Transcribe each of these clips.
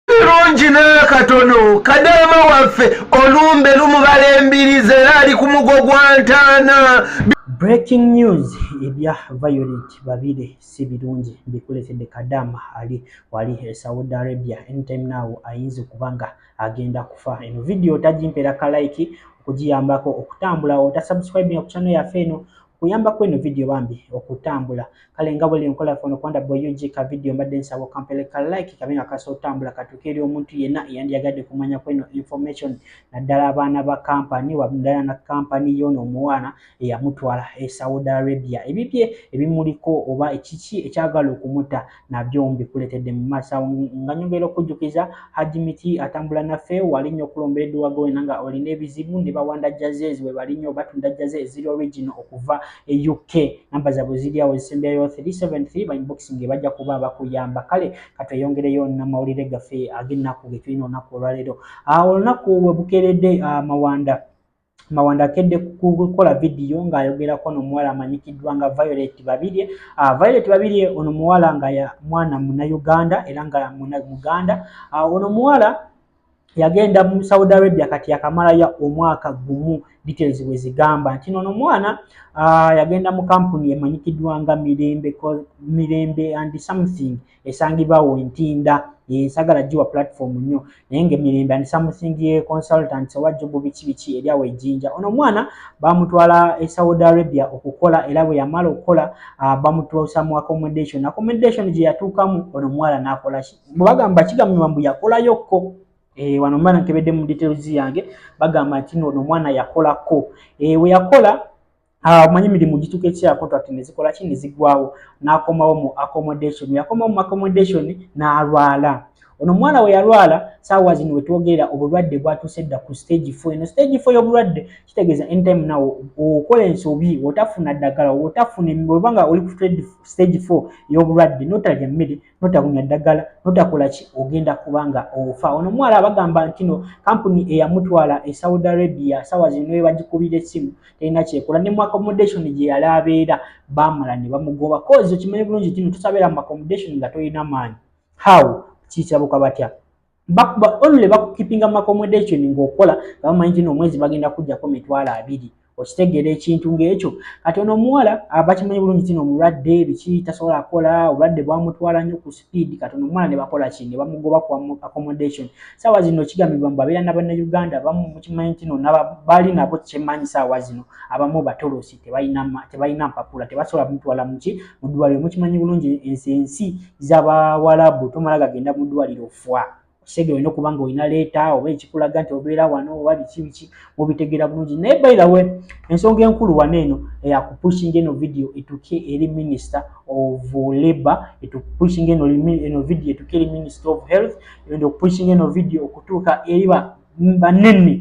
kirungi n'akatono kadaama waffe olumbe lumubala embirizi era ali ku mugo gwa ntaana breaking news ebya violet babire si birungi bikuletedde kadaama ali wali e saudi arabia anytime now ayinza okuba nga agenda kufa eno vidiyo otagimpera kalaiki okugiyambako okutambula otasubscribinga ku kyano yaffe eno kuyambako eno video bambi okutambula kale nga bwele nkola fono kwanda boy ug ka video mbadde nsaba okampele ka like kabe nga kasa otambula katuuka eri omuntu yenna eyandiyagadde kumanya kweno information naddala abaana ba kampani waddala na kampani yoono omuwaana eyamutwala e saudi arabia ebibye ebimuliko oba ekiki ekyagala okumuta nabyo mbikuletedde mu maaso awo nga nyongera okujjukiza Hajj Miti atambula naffe wali nnyo okulombera edduwaga wena nga olina ebizibu ne bawanda jazes we bali nnyo batunda jaze eziri original okuva e UK namba zaabwe ziri awo ezisemberayo 373 ba inboxing bajja kuba bakuyamba kale katweyongereyo namawulire gaffe ag'ennaku ge tulina olunaku olwaleero ah, olunaku we bukeeredde ah, mawanda Mawanda akedde kukola vidiyo ng'ayogerako no muwala amanyikiddwa nga Violet Babirye. Uh, Violet Babirye ono muwala nga ya mwana munayuganda era nga muganda. Uh, ono muwala yagenda mu Saudi Arabia kati yakamalayo omwaka gumu details bwe zigamba nti nono mwana uh, yagenda mu kampuni emanyikiddwa nga Mirembe, Mirembe and something esangibwa wo ntinda yensagala jiwa platform nyo naye nga emirembe and something ye consultants oba jobu biki biki eryawo ejinja ono omwana bamutwala e saudi arabia okukola era bwe yamala okukola ah, bamutuusa mu accommodation accommodation gye yatuukamu ono omuwala nakola ki bwebagamba kigambibwa mbu yakolayokko Eh, wano mba nkebedde mu details yange bagamba nti noono omwana yakolako eh, weyakola Ah, omanyi emirimu gituka ekya contract nezikola ki nezigwawo nakomawo mu accommodation yakomawo mu accommodation nalwala ono omwana we yalwala saawa zino wetwogerera obulwadde bwatuuse dda ku stage fo eno stage fo y'obulwadde kitegeeza anytime nawo okola ensobi otafuna ddagala otafuna obanga oli ku stage fo y'obulwadde notalya mmere notabunya ddagala notakola ki ogenda kubanga ofa ono omuwala abagamba nti no kampuni eyamutwala e saudi arabia sawa zino naye bagikubira essimu terina kyekola ne mu accommodation gye yali abeera bamala ne bamugoba kozi okimanyi bulungi tino tosabeera mu accommodation nga tolina maanyi how kikirabuka batya bakuba only bakukipinga accommodation ng'okola nga bamanyi tino omwezi bagenda kujjako mitwalo abiri okitegeera ekintu ng'ekyo kati ono omuwala abakimanyi bulungi tino omulwadde biki tasobola kola obulwadde bwamutwala nnyo ku speed kati ono omuwala ne bakola ki ne bamugoba ku accommodation saawa zino kigambibwa mbu abeera nabannauganda bamu mukimanyi tino bali nabo kyemanyi saawa zino abamu batolosi tebalina tebalina mpapula tebasobola kumutwala muki mu ddwaliro mukimanyi bulungi ensi ensi z'abawalabu tomala gagenda mu ddwaliro fwa kisege olina okuba nga olina leeta oba ekikulaga nti obeera wano oba biki biki mubitegeera bulungi naye bailawe ensonga enkulu wano eno eyakupushinga eh, eno vidiyo etuke eri minister of labor etupushinga eno vidiyo etuke eri minister of health enda okupushinga eno vidiyo okutuuka eri banene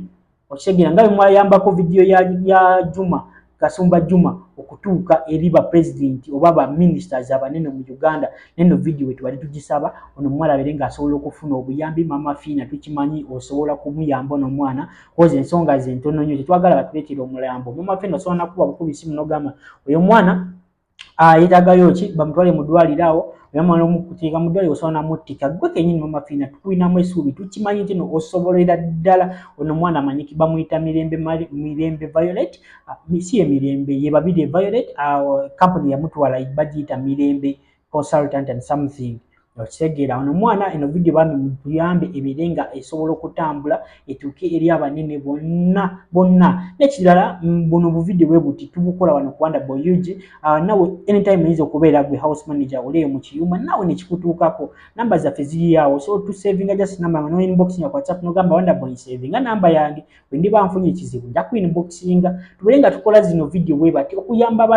okitegera nga bemwayambako vidiyo ya, ya juma kasumba juma okutuuka eri ba president oba ba ministers abanene mu uganda neno vidiyo wetubali tugisaba ono omuwala abere nga asobola okufuna obuyambi mama fiina tukimanyi osobola kumuyamba ono omwana koza ensonga zentono nyo tetwagala batuletera omulambo mama fiina osobola nakuba bukubi simu nogamba oyo omwana ah, yetagayo ki bamutwale mu ddwaliro awo era mwana omukuteeka mu ddwaliro osobola namuttika gwe kenyini mama fiina tukulinamu esuubi tukimanyi nti no osobolera ddala ono omwana amanyiki bamuyita mirembe mirembe violet ah, si ye mirembe ye babiri violet ah, kampuni yamutwala bagiyita mirembe consultant and something okitegeera ono omwana eno vidiyo bambi mutuyambe ebeere nga esobola okutambula etuuke eri abanene bonna bonna nekirala mm, buno obuvidiyo bwe buti tubukola wano kuwanda boug ah, nawe anytime oyinza okubeera gwe house manager oleeyo mu kiyuma nawe nekikutuukako namba zaffe ziriyaawo so tusavinga just namba nga noinbox nga whatsapp nogamba wanda boy savinga namba yange bwe ndiba nfunye ekizibu nja ku inboxinga tubere nga tukola zino vidiyo bwe bati okuyamba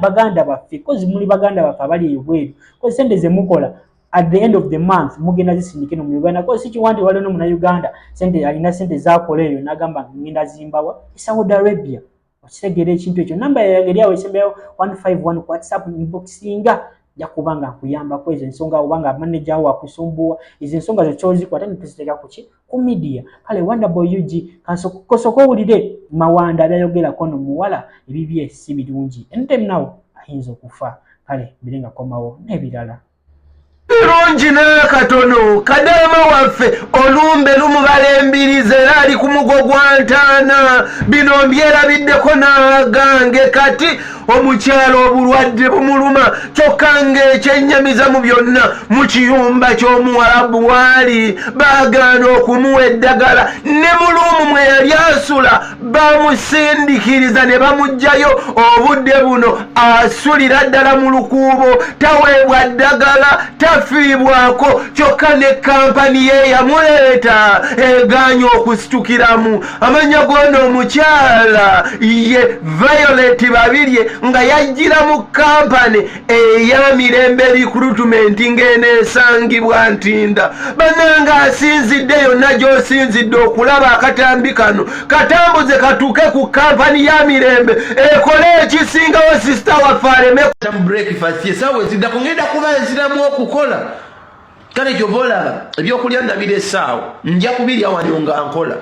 baganda baffe kozi muli baganda baffe abali eyo bweru kozi sente ze mukola at the end of the month mugenda zisindike no mu uganda kozi si kiwanti wali no muna uganda sente alina sente zakola eyo nagamba ngenda zimbawa saudi arabia okitegeera ekintu ekyo namba yange eri awo esembeyawo 151 ku whatsapp inbox singa nja kuba nga nkuyambako ezo ensonga oba nga manaja wo akusumbuwa ezo ensonga zo kyoziko ate netuziteka kuki ku midiya kale wonderboy ug kasoka owulire mawanda byayogerako no muwala ebibye si birungi anytime nawo ayinza okufa kale mbire nga komawo n'ebirala kirungi n'akatono kadaama waffe olumbe lumubala embirizi era ali ku mugo gwa ntaana bino mbyerabiddeko n'agange kati omukyalo obulwadde bumuluma kyokka ng'ekyennyamiza mu byonna mu kiyumba ky'omuwalabu waali baagaana okumuwa eddagala ne muluumu mwe yali asula bamusindikiriza ne bamugjayo obudde buno asulira ddala mu lukuubo taweebwa ddagala tafiibwako kyokka ne kampani ye yamuleeta egaanya okusitukiramu amanya goona omukyala ye violet babirye nga yajjira mu kampani eya mirembe likrutumenti ng'eno esangibwa ntinda bananga asinzidde yonna gy'osinzidde okulaba akatambi kano katambuze katuuke ku kampani ya mirembe ekole ekisingawo sisita waffe alemebreakfastesaawa eziddako ngenda kuba eziramu okukola kale kyova olaba ebyokulya ndabira esaawa nja kubirya wano nga nkola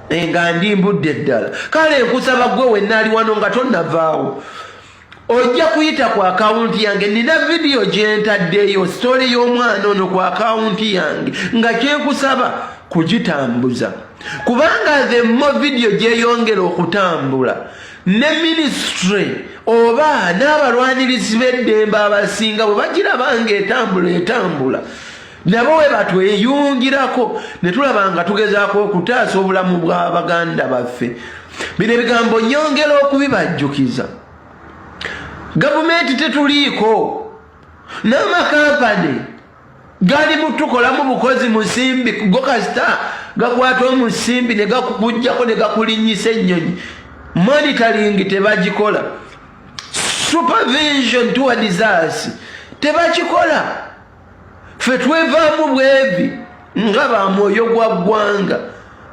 eh, nga ndi mbudde ddala kale nkusaba gwe wennaali wano nga tonnavaawo ojja kuyita ku akawunti yange nina vidiyo gyentaddeyo sitole y'omwana ono ku akawunti yange nga kyenkusaba kugitambuza kubanga themmo vidiyo gyeyongera okutambula ne minisitule oba n'abalwanirizi b'eddembe abasinga bwe bagiraba nga etambula etambula nabo we batweyungirako ne tulaba nga tugezaako okutaasa obulamu bwa baganda baffe bino ebigambo nyongera okubibajjukiza gavumenti tetuliiko n'amakampani gali mutukolamu bukozi musimbi go kasita gakwata omusimbi ne gakujjako ne gakulinyisa ennyonyi monitoring tebagikola supervision towards us tebakikola ffe twevaamu bwevi nga ba mwoyo gwa ggwanga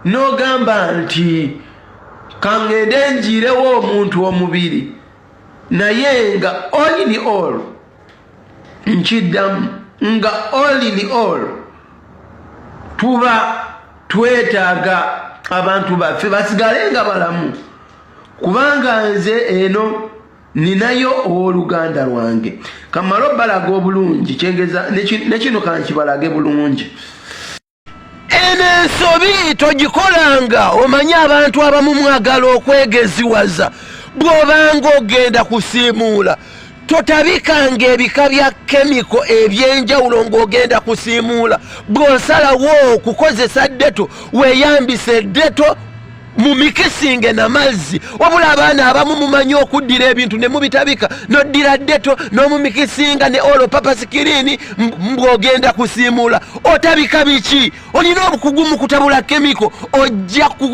n'ogamba nti kangende njiirewo omuntu omubiri naye nga olini all nkiddamu nga olini all tuba twetaaga abantu baffe basigale nga balamu kubanga nze eno ninayo ow'oluganda lwange kamala obalaga obulungi kyengeza nekino kankibalage bulungi eno ensobi togikolanga omanye abantu abamu mwagala okwegeziwaza bw'obanga ogenda kusiimuula totabikanga ebika bya kemiko ebyenjawulo ng'ogenda kusiimuula bw'osalawo okukozesa deto weeyambise deto mumikisinge namazzi wabula abaana abamu mumanyi okuddira ebintu nemubitabika noddira deto nomumikisinga ne olo papa sikirini mbwogenda kusiimuula otabika biki olina obukugu mu kutabula kemiko ojja